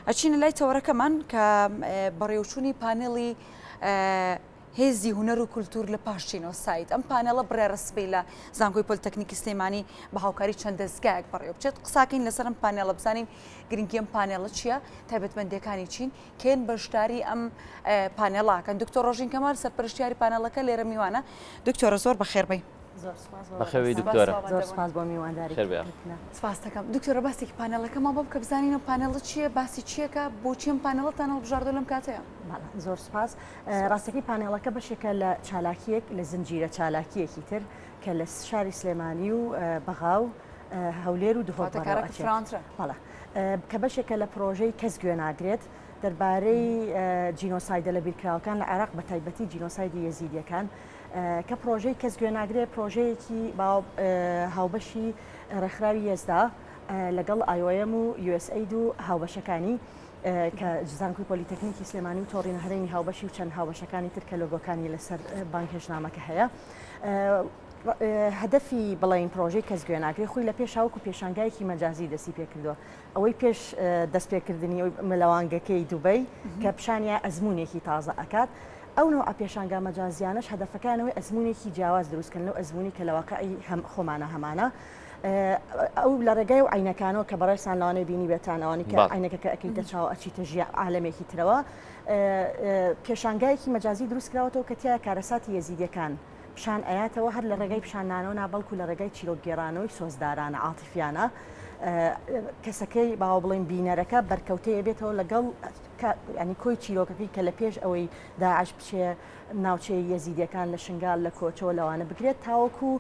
ئەچینە لای تەوەرەکەمان کە بەڕێوچوونی پانێڵی هێزی هوەر و کولتور لە پاشچینەوە سایت ئەم پانێڵە بڕێ ڕسبی لە زانکۆی پلتەکنیکی سلێمانی بە هاوکاری چەند دەستگایەک بەڕێو بچێت قساکەین لەسەرم پانێڵە بزانین گرنگی ئەم پانێڵە چییە تایبەتمەندەکانی چین کێن بەشداری ئەم پانێڵاکەن دکتۆر ڕۆژین کەمال سەرپەرشتیاری پانێڵەکە لێرە میوانە دکتۆرە زۆر بەخێربی. بەخەوی دکتۆرە سپاس بۆ میوانداری سپاستەکەم دکتۆرە باسێکی پانەڵەکەمان بۆ بکە بزانینە پانەڵە چییە باسی چیەکە بۆ چیم پانەڵەتان هەڵبژاردە لەم کاتەیە زۆر سپاس ڕاستەکەی پانێڵەکە بەشێکە لە چالاکیەک لە زنجیرە چالاکیەکی تر کە لە شاری سلێمانی و بەغا و هەولێر و دهۆتەکەڵە کە بەشێکە لە پرۆژەی کەس گوێ ناگرێت دەربارەی جینۆسایدە لە بیرکراوەکان لە عێراق بە تایبەتی جینۆسایدی یەزیدیەکان کە پرۆژەی کەس گوێ ناگرێ پرۆژەیەکی هاوبەشی ڕێکخراوی یەزدا لەگەڵ ئایۆم و یوSAید و هاوبەشەکانی کە زانکوی پۆلیتەکنیکی سلێمانی و تۆڕی هەرێمی هاوبەشی و چەند هاوبەشەکانی تر کە لۆگۆکانی لەسەر بانگهێشنامەکە هەیە هەدەفی بڵین پرۆژەی کەس گوێناگری خۆی لە پێشاوکو پێشانگایەکی مەجازی دەستی پێکردووە ئەوەی پێش دەستپێکردنی لەوانگەکەی دوبەی کە پیشانیان ئەزمونێکی تازە ئەکات ئەو نەوە پێشانگا مەجازیانەش هەدەفەکانەوەی ئەزمونێکی جیاواز دروستکردن لەو ئەزمونی کە لەواقعی هەم خۆمانە هەمانە ئەو لە ڕێگای و عینەکانەوە کە بەڕێسان لەوانەی بینی بێتانەوانی کە عینەکەکە ئەکەیتە چاو ئەچیتە ژی عالمێکی ترەوە پێشانگایەکی مەجازی دروستکراوەتەوە کە تیا کارەساتی یەزیدەکان پیشان ئەیاتەوە هەر لە ڕێگای پیشاندانەوە نا بەڵکو لە ڕێگای چیرۆک گێرانەوەی سۆزدارانە عاتیفیانە کەسەکەی باوە بڵێن بینەرەکە بەرکەوتەیە بێتەوە لەگەڵ ینی کۆی چیرۆکەکەی کە لە پێش ئەوەی داعش بچێ ناوچەی یەزیدەکان لە شنگال لە کۆچەوە لەوانە بگرێت تاوەکو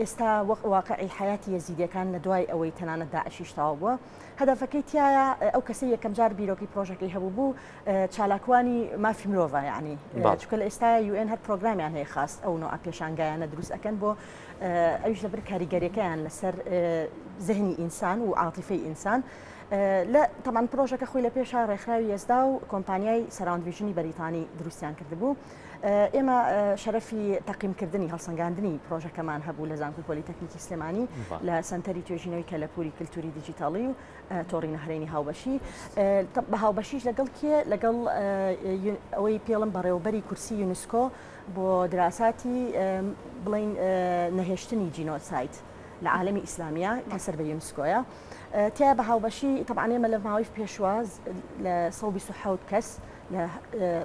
ئێستا وەک واقعی حیاتی یەزیدەکان لە دوای ئەوەی تەنانە داعشیشتاوە بووە هەدەفەکەی تایە ئەو کەسی یەکەم جار بیرۆکی پرۆژەکەی هەبوو بوو چالاکوانی مافی مرۆڤە یعنی چکە لە ئێستاە یوئێن هەر پرۆگرامیان هەیە خاست ئەو نوع پێشانگایانە دروست ئەەکەن بۆ ئەوش لەبر کاریگەریەکەیان لەسەر زهنی ئینسان و عاتیفی ئینسان لە تەمان پرۆژەکە خۆی لە پێشا ڕێکخراوی ئێزدا و کۆمپانیای سەراندویژنی بەریتانی دروستیان کردبوو ئێمە شەرەفی تەقیمکردنی هەڵسەنگاندنی پرۆژەکەمان هەبوو لە زانکو پۆلیتەکنیکی سلێمانی لە سنتەری توێژینەوەی کەلەپوری کللتوری دیجیتاڵی و تۆڕی نەهرێنی هاوبەشی بە هاوبەشیش لەگەڵ کێ لەگەڵ ئەوەی پێڵم بەڕێوبەری کورسی یونسکۆ بۆ دراساتی بڵین نەهێشتنی جینۆسایت لە عالمی ئیسلامیە کە سەر بە یونسکۆیە تیا بە هاوبەشی تەبانێمە لە ماوەی پێشواز لە 1970 کەس لە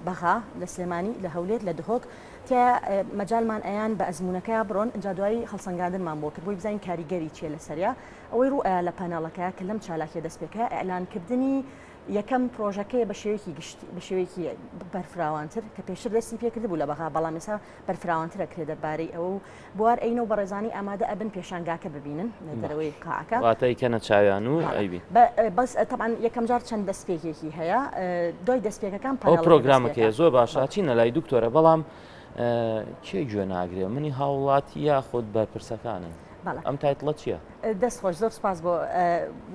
بەغا لە سلێمانی لە هەولێت لە دهۆک تیا مەجالمان ئەیان بە ئەزمونونەکە بڕۆن ئەجا دوایی هەڵسەنگاندنمان بۆ کرد بۆی بزانین کاریگەری چیە لە سەریا ئەوەی ڕوو ئەیا لە پانێڵەکە کە لەم چالاکیە دەست پێکرا ئیعلان کردنی یەکەم پرۆژەکەیە بە شێوەیەکی گشتی بە شێوەیەکی بەرفراوانتر کە پێشتر دەستی پێکرد بوو لە بەغا بەڵام ئێستا بەرفراوانترە کرێ دەربارەی ئەوە و بوار ئەینە و بەڕێزانی ئامادە ئەبن پێشانگاکە ببینن لە دەرەوەی قاعەکە واتای کەنە چاویان و ئەیبین بەس تەبعەن یەکەم جار چەند دەست پێکێکی هەیە دوای دەست پێکەکان پرۆگرامەکەی زۆر باشە چینە لای دکتۆرە بەڵام کێ گوێ ناگرێ منی هاوڵاتی یاخود بەرپرسەکانن ئەم تایتڵە چییە؟ دەست خۆش زۆر سپاس بۆ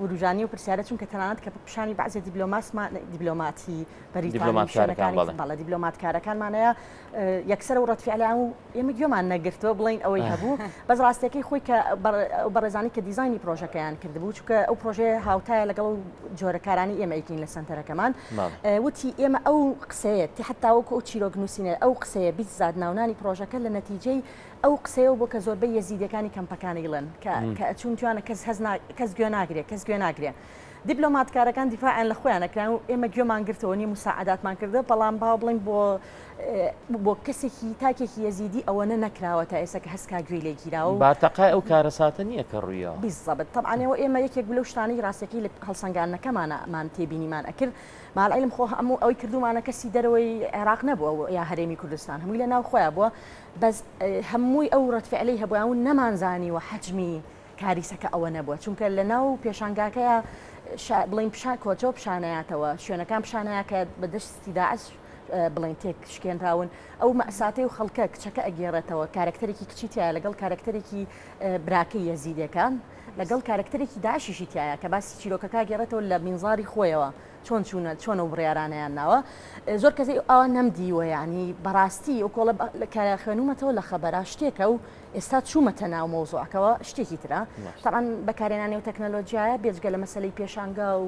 وروژانی و پرسیارە چونکە تەنانەت کە پیشانی بەعزێ دیبلۆماسمان دیبلۆماتی بەریتانیشارەکانی بەڵە دیبلۆماتکارەکانمانەیە یەکسەر و ڕەتفیعلیان و ئێمە گوێمان نەگرتووە بڵین ئەوەی هەبوو بەس ڕاستەکەی خۆی کە بەڕێزانی کە دیزانی پرۆژەکەیان کردبوو چونکە ئەو پرۆژەیە هاوتایە لەگەڵ جۆرە کارانی ئێمە ئەیکەین لە سەنتەرەکەمان وتی ئێمە ئەو قسەیە تی حتاوەکو ئەو چیرۆک نووسینە ئەو قسەیە بیست زاد ناونانی پرۆژەکە لە نەتیجەی ئەو قسەیە بۆ کە زۆربەی یەزیدەکانی کەمپەکانی گڵن کە کە ئەچون توانە کەس هەز کەس گوێ ناگرێت کەس گوێ ناگرێت. دیبلۆماتکارەکان دیفاعیان لە خۆیان نەکراون و ئێمە گوێمان گرتەوە نی مساعداتمان کردە بەڵام باو بڵین بۆ بۆ کەسێکی تاکێکی یەزیدی ئەوەنە نەکراوە تا ئێستا کە هەسکا گوێی لێ گیراوە و بارتەقای ئەو کارەساتە نییە کە ڕوویە بالضبط طبعا و ئێمە یەکێک لەو شتانەی ڕاستەکەی لە هەڵسەنگاندنەکەمانەمان تێبینیمان ئەکرد مع العلم خۆ هەموو ئەوەی کردومانە کەسی دەرەوەی عێراق نەبووە یا هەرێمی کوردستان هەمووی لە ناو خۆیان بووە بەس هەمووی ئەو ڕەتفعلەی هەبووە و نەمانزانی و حەجمی کاریسەکە ئەوە نەبووە چونکە لە ناو پێشانگاکەیە بڵین پیشان کۆچەوە پیشانەیاتەوە شوێنەکان پیشانەیە کە بەدەستی داعش بڵێن تێکشکێنراون ئەو مەساتەی و خەڵکە کچەکە ئەگێڕێتەوە کارکتەرێکی کچی تایە لەگەڵ کارکتەرێکی براکە یەزیدەکان لەگەڵ کارکتەرێکی داشیشی تایە کە باسی چیرۆکەکە گێڕێتەوە لە مینزاری خۆیەوە چۆن چوونە چۆن و بڕیارانیان ناوە زۆر کەسی ئەوە نەمدیوە ینی بەڕاستی ئەو کۆڵە کە خوێنومەتەوە لە خەبەرا شتێکە و ئێستا چوومەتە ناو مۆزۆعەکەەوە شتێکی ترە تاان بەکارێنانی و تەکنەلۆژیایە بێجگە لە مەسلەی پێشانگا و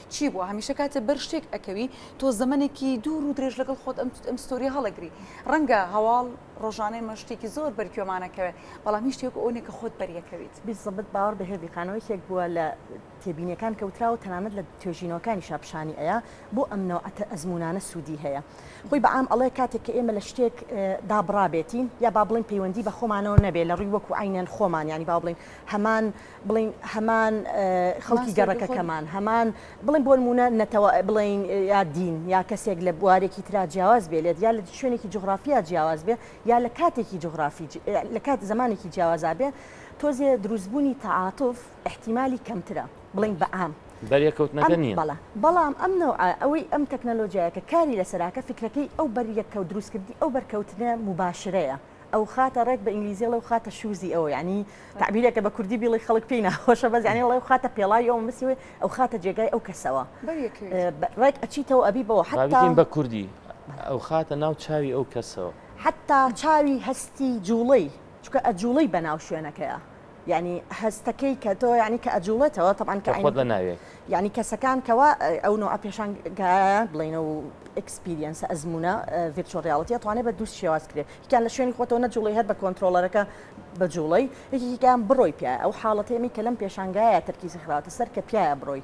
چی بوە هەمیشە کاتێ بەر شتێک ئەکەوی تۆ زەمەنێکی دوور و درێژ لەگەڵ خۆت ئەم ئەم ستۆریە هەڵەگری ڕەنگە هەواڵ ڕۆژانەی مە شتێکی زۆر بەرکوێمانەکەوێ بەڵام هیچ شتێک ئەوەنێ کە خۆت بەریەکەویت بیسەبت باوەڕ بە هێڤی خانەوە یەکێک بووە لە تێبینیەکان کەوتراوە تەنانەت لە توێژینەوەکانی شاپشانی ئەیە بۆ ئەم نەوعەتە ئەزمونانە سوودی هەیە خۆی بە عام ئەڵێ کاتێک کە ئێمە لە شتێک دابڕابێتین یا با بڵین پەیوەندی بە خۆمانەوە نەبێ لە ڕووی وەکو عینەن خۆمان ینی با بڵین هەمان بڵێین هەمان خەڵکی گەڕەکەکەمان هەمان بڵێن بۆ نمونە نەتەوە بڵین یا دین یا کەسێک لە بوارێکی تررا جیاواز بێ لێت یا لە شوێنێکی جغرافیا جیاواز بێ یا لە کاتێکی جغرافی لە کات زمانێکی جیاوازا بێ تۆزێ دروستبوونی تەعااتف احتیممالی کەمترە بڵین بە ئام بەریەکەوتنەکە نیە بەڵە بەڵام ئەم نەوە ئەوەی ئەم تەکنەلۆژیایەکە کاری لەسەراکە فکرەکەی ئەو بەریەکەوت دروستکردی ئەو بەرکەوتنە مباشرەیە. ئەوخاتە ڕێک بە ئینگلیزی ئەڵێ ئەوخاتە شوزی ئەو یعنی تعبیرێکە بە کوردی بیڵی خەڵک پێی ناخۆشە بەس یعنی ئەڵێ ئەوخاتە پێڵاوی ئەو مسی وێ ئەوخاتە جێگای ئەو کەسەوە ڕێک ئەچیتەوە ئەبی بەوە حتا بە کوردی ئەوخاتە ناو چاوی ئەو کەسەوە حتا چاوی هەستی جوڵەی چکە ئەجوڵەی بەناو شوێنەکەیە. یانی هەستەکەی کە تۆ یانی کە ئەجوڵێتەوە تەبان کە خۆت بەناوێ یانی کەسەکان کەوا ئەو نوع پێشان بڵێنە و ئەکسپیریەنس ئەزمونە ڤرچۆ ریاڵەتی توانێت بە دووست شێواز کرێت یکان لە شوێنی خۆتەوە نەجوڵی هەر بە کۆنتترۆلەرەکە بە جوڵی یەکیکان بڕۆی پیاە ئەو حاڵەتێمی کە لەم پێشانگایە تەرکیزی خراوەتە سەر کە پیاە بڕۆی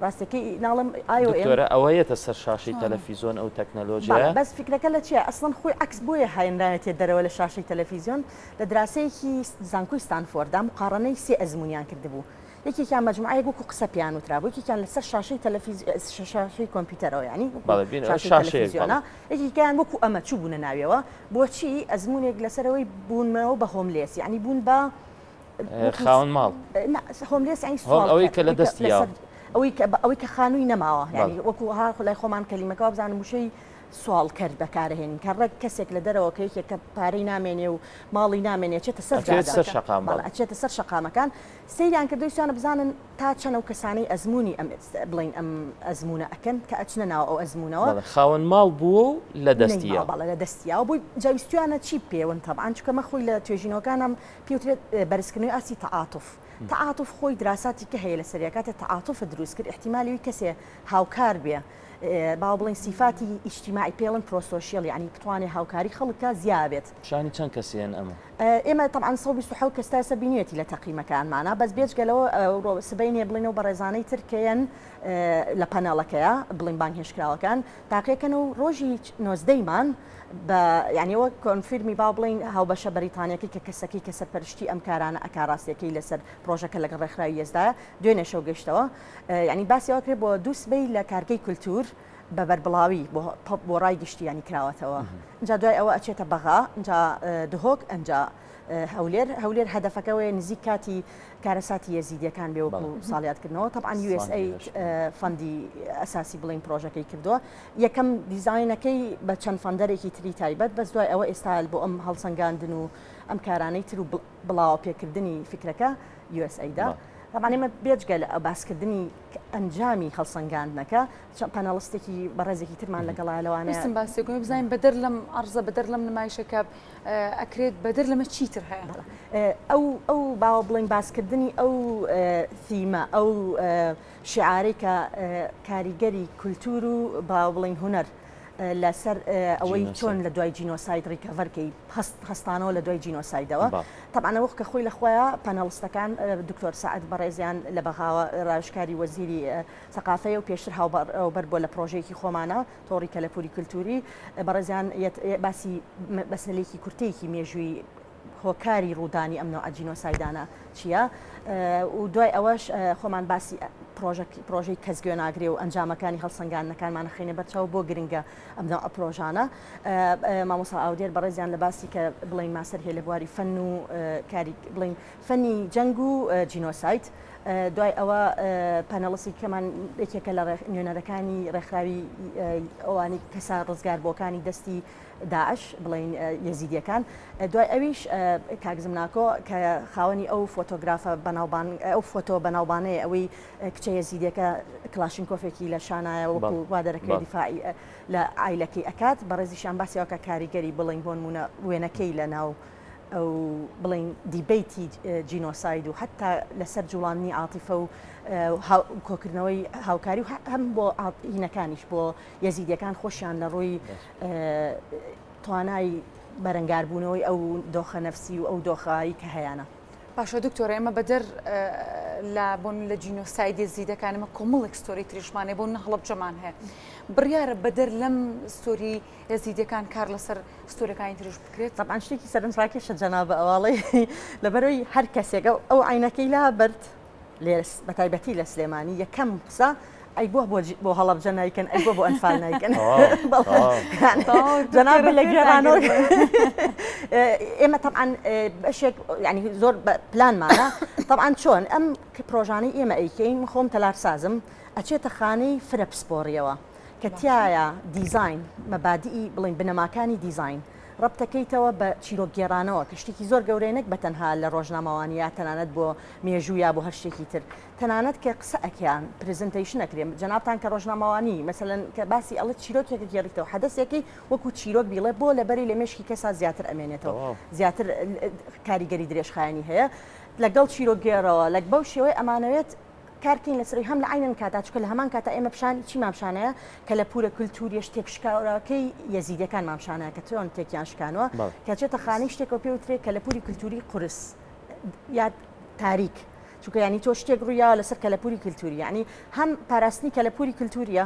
ڕاستەکەی ناڵم ئایۆرە ئەوە یەتە سەر شاشی تەلەفیزۆن ئەو تەکنەلۆژیا بەس فکرەکە لە چیە ئەسڵەن خۆی عکس بۆیە هاێنراێتێ دەرەوە لە شاشی تەلەفیزیۆن لە دراسەیەکی زانکۆی ستانفۆردا مقاڕەنەی سێ ئەزموونیان کردبوو، یەکێکیان مەجموعەیەک وەکو قسە پێیان وترابوو، یەکێکیان لەسەر شاشەی تەلەفیزیۆن، شاشەی کۆمپیوتەرەوە یانی وەکو شاشەی تەلەفیزیۆنە، یەکێکیان وەکو ئەمە چووبوونە ناویەوە، بۆچی؟ ئەزموونێک لەسەرەوەی بوونەوە بە هۆملێس یانی بوون بە خاوەن ماڵ، نا هۆملێس یانی سواڵکەر، ئەوەی کە لە دەستی یاوە، ئەوەی کە خانووی نەماوە، یانی وەکو ها لای خۆمان کەلیمەکە وابزانم وشەی سواڵکەر دەکارهێنین کە ڕێک کەسێک لە دەرەوە کە یەکێک کە پارەی نامێنێ و ماڵی نامێنێ ئەچێتە سەر جادە، ئەچێتە سەر شەقام بەڵێ بەڵێ. ئەچێتە سەر شەقامەکان سەیریان کردووە ویستویانە بزانن تا چەند ئەو کەسانەی ئەزموونی ئەم بڵێین ئەم ئەزموونە ئەکەن کە ئەچنە ناو ئەو ئەزموونەوە. بەڵێ خاوەن ماڵ بووە و لە دەستی نەیماوە یاوە. بەڵێ لە دەستی یاوە بووی جا ویستویانە چی بکەێون تەبعەن چونکە مە خۆی لە توێژینەوەکانم پێ وترێت بەرزکردنەوەی ئاستی تەعاتوف تەعاتوف خۆی دراساتی کە هەیە لەسەری کاتێ تەعاتوفت دروست کرد ئیحتیمالی ئەوی کەسێ هاوکار بێ باوە بڵێین سیفاتی ئیجتیماعی پێڵن پرۆسۆشیەل یعنی بتوانێ هاوکاری خەڵک کا زیا بێت. پیشانی چەند کەسی هەن ئەمە؟ ئێمە تەبعەن سەد و بیست و حەوت کەس تا ئێستا بینیوێتی لە تەقیمەکانمانا بەس بێجگە لەوە ئەوڕۆ سبەینێ بڵێن ئەو بەڕێزانەی تر کێن لە پەنەڵەکەیە بڵێن بانگهێشتکراوەکان تاقیەکەن و ڕۆژی نۆزدەی مان بە یعنی وەک کۆنفیرمی با بڵین هاوبەشە بەریتانیەکەی کە کەسەکەی کە سەرپەرشتی ئەم کارانە ئەکا ڕاستیەکەی لەسەر پرۆژەکە لەگەڵ ڕێکخراوی یەزدایە دوێنێ شەو گەشتەوە یانی باسی ئەوە کرێ بۆ دوو سبەی لە کارگەی کولتوور بە بەربڵاوی بۆ ڕای گشتیانی کراوەتەوە جا دوای ئەوە ئەچێتە بەغا جا دهۆک ئەنج هەولێر هەولێر هەدەفەکەەوەی نزیک کاتی کارەساتی یەزیدیەکان بێ وەکو ساڵیاتکردنەوە تەعاان USA فەندی ئەساسی بڵین پرۆژەکەی کردووە یەکەم دیزینەکەی بە چەند فەندەرێکی تری تایبەت بەس دوای ئەوە ئێستا بۆ ئەم هەڵسەنگاندن و ئەم کارانەی تر و بڵاوە پێکردنی فکرەکە USAID-ە. تابان ئێمە بێجگە لە باسکردنی ئەنجامی هەڵسەنگاندنەکە چە پەنەڵستێکی بەڕێزێکی ترمان لەگەڵا لەوانستم باسێکم بزانین بەدەر لەم ئەرزە بەدەر لەم نمایشەکە ئەکرێت بەدەر لەمە چیتر هەیە ئەو ئەو باوە بڵین باسکردنی ئەو ثیمە ئەو شعارێکە کاریگەری کولتور و باوڵین هوەر لەسەر ئەوەی چۆن لە دوای جینۆساید ڕیکەڤەرکەی هەست هەستانەوە لە دوای جینۆسایدەوە تەبانە وەخ کە خۆی لەخۆیە پەنەڵستەکان دکتۆر سعات بەڕێزیان لە بەغاوە ڕاوشکاری وەزیری سەقافەیە و پێشتر هاوبەر بەر بۆ لە پرۆژێکی خۆمانە تۆڕی کەلەپوری کللتوری بەڕێزیان باسی بەسەلێکی کورتەیەکی مێژووی هۆکاری ڕوودانی ئەم نەوعە جینۆسایدانە چییە و دوای ئەوەش خۆمان باسی پرۆژەی کەس گوێ ناگرێ و ئەنجامەکانی هەڵسەنگاندنەکانمان خینە بەرچاو بۆ گرنگە ئەم نەوعە پرۆژانە مامۆسا ئاودێر بەڕێزیان لە باسی کە بڵین ماسەر هەیە لە بواری فەن و کاری بڵین فەنی جەنگ و جینۆسایت دوای ئەوە پەنەڵسی کەمان یەکێکە لە نوێنەرەکانی ڕێکخراوی ئەوانی کەسا ڕزگار بۆکانی دەستی داعش بڵێین یەزیدیەکان دوای ئەویش کاک زمناکۆ کە خاوەنی ئەو فۆتۆگرافە بەناوبانگ ئەو فۆتۆ بەناوبانەیە ئەوەی کچە یەزیدیەکە کلاشینکۆفێکی لە شانایە وەکو بەڵێ وا دەرەکەوێت بەڵێ دیفاعی لە عایلەکەی ئەکات بەڕێزیشیان باسی ئەوکات کاریگەری بڵێین بۆنمونە وێنەکەی لە ناو ئەو بڵێین دیبەیتی جینۆساید و حەتا لەسەر جوڵاندنی عاتیفە و هاو کۆکردنەوەی هاوکاری و هەم بۆ عات هینەکانیش بۆ یەزیدیەکان خۆشیان لە ڕووی بەس توانای بەرەنگاربوونەوەی ئەو دۆخە نەفسی و ئەو دۆخایی کە هەیەە. باشە دکتۆرە ئێمە بەدەر لە بۆن لە جینۆسایدی زیدەکان ئمە کۆمەڵێک ستۆری تریشمانێ بۆ نەهڵب جەمان هەیە بڕیاە بەدەر لەم ستۆری ئێزیدەکان کار لەسەر ستۆرەکانی ترش بکرێت تەبان شتێکی سەرنجڕاکێشە جەنابە ئەواڵی لەبەرەوەی هەر کەسێکە ئەو عینەکەی لا بەرد لێ بەتایبەتی لە سلێمانی یەکەم قسە ئەی بۆ بۆ هەڵبجە نایکەن ئەی بۆ بۆ ئەنفال نایکەن جەناب لە گێرانەوە ئێمە تەعاان بەشێک ینی زۆر پلانمانە تەعاان چۆن ئەم پرۆژانەی ئێمە ئەیکەین خۆم تەلارسازم ئەچێتە خانەی فرە پسپۆریەوە کە تایە دیزین مەبادی بڵین بنەماکانی دیزین. ڕەبتەکەیتەوە بە چیرۆکگێڕانەوە کە شتێکی زۆر گەورەیە نەک بەتەنها لە ڕۆژنامەوانی یا تەنانەت بۆ مێژوو یا بۆ هەر شتێکی تر تەنانەت کە قسە ئەکەیان پرزنتەیشن ئەکرێ جەنابتان کە ڕۆژنامەوانی مەسەلەن کە باسی ئەڵێ چیرۆکێکە گێڕیتەوە حەدەسێکی وەکو چیرۆک بیڵێ بۆ لەبەری لە مێشکی کەسا زیاتر ئەمێنێتەوە زیاتر کاریگەری درێژخایەنی هەیە لەگەڵ چیرۆکگێڕەوە لەک بەو شێوەی ئەمانەوێت کارتی میسری هەم لە عەینەن کاتا چکە لە هەمان کاتا ئێمە پیشانی چی مامشانەیە کە لە پورە کللتوریش تێکشکاوراکەی یەزیدەکان مامشانە کە چۆن تێکیان شکانوە کە چێتە خانی شتێکەوە پێ وترێت کە لە پوری کللتوری قرس یا تاریک چونکە ینی تۆ شتێک ڕوویا لەسەر کەلەپوری کللتوری ینی هەم پاراستنی کەلەپوری کللتوریە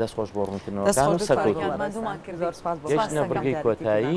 دەست خۆش بۆ ڕوونکردنەوەکان و سەرکەوتووبن. گەیشتینە بڕگەی کۆتایی.